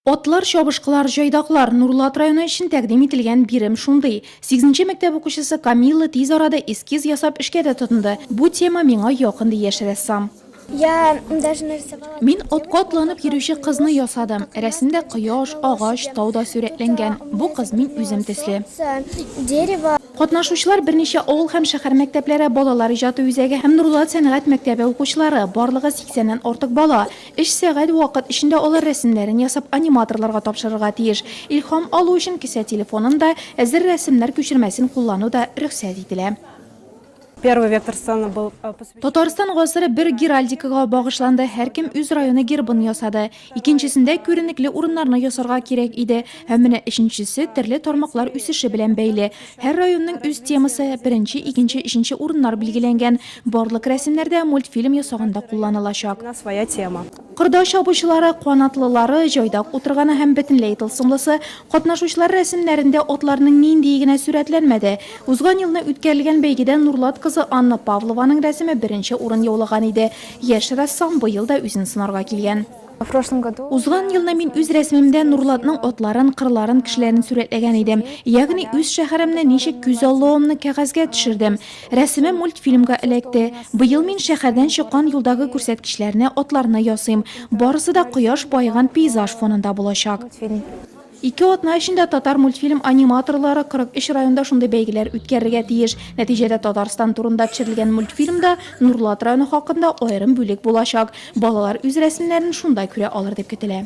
Атлар, чабышкылар, җайдаклар, Нурлат районы өчен тәкъдим ителгән бирем шундый. Сигезенче мәктәп укучысы Камилла тиз арада эскиз ясап эшкә дә тотынды. Бу тема миңа якын, ди яшь рәссам. Мин атка атланып йөрүче кызны ясадым. Рәсемдә кояш, агач, тау да сурәтләнгән. Бу кыз мин үзем төсле. Катнашучылар берничә авыл һәм шәһәр мәктәпләре балалар иҗаты үзәге һәм Нурлат сәнгать мәктәбе укучылары, барлыгы 80 нән артык бала. Өч сәгать вакыт эчендә алар рәсемнәрен ясап аниматорларга тапшырырга тиеш. Илһам алу өчен кесә телефонын да, әзер рәсемнәр күчермәсен куллану да рөхсәт ителә. Первый вектор сцены был посвящен. Татарстан гасыры бер геральдикага багышланды, һәркем үз районы гербын ясады. Икенчесендә күренекле урыннарны ясарга кирәк иде. Һәм менә өченчесе, төрле тармаклар үсеше белән бәйле. Һәр районның үз темасы, беренче, икенче, өченче урыннар билгеләнгән. Барлык рәсемнәр дә мультфильм ясаганда кулланылачак. Кырда чабучылары, канатлылары, җайдак утырганы һәм бөтенләй тылсымлысы, катнашучылар рәсемнәрендә атларның ниндие генә сурәтләнмәде. Узган елны үткәрелгән бәйгедә Нурлат кызы Анна Павлованың рәсеме беренче урын яулаган иде. Яшь рәссам быел да үзен сынарга килгән. Узган елны мин үз рәсемемдә Нурлатның атларын, кырларын, кешеләрен сурәтләгән идем. Ягъни үз шәһәремне ничек күз алуымны кәгазьгә төшердем. Рәсемем мультфильмга эләкте. Быел мин шәһәрдән чыккан юлдагы күрсәткечләрне, атларны ясыйм. Барысы да кояш баеган пейзаж фонында булачак. Ике атна эчендә Татармультфильм аниматорлары 43 районда шундый бәйгеләр үткәрергә тиеш. Нәтиҗәдә Татарстан турында төшерелгән мультфильмда Нурлат районы хакында аерым бүлек булачак. Балалар үз рәсемнәрен шунда күрә алыр дип көтелә.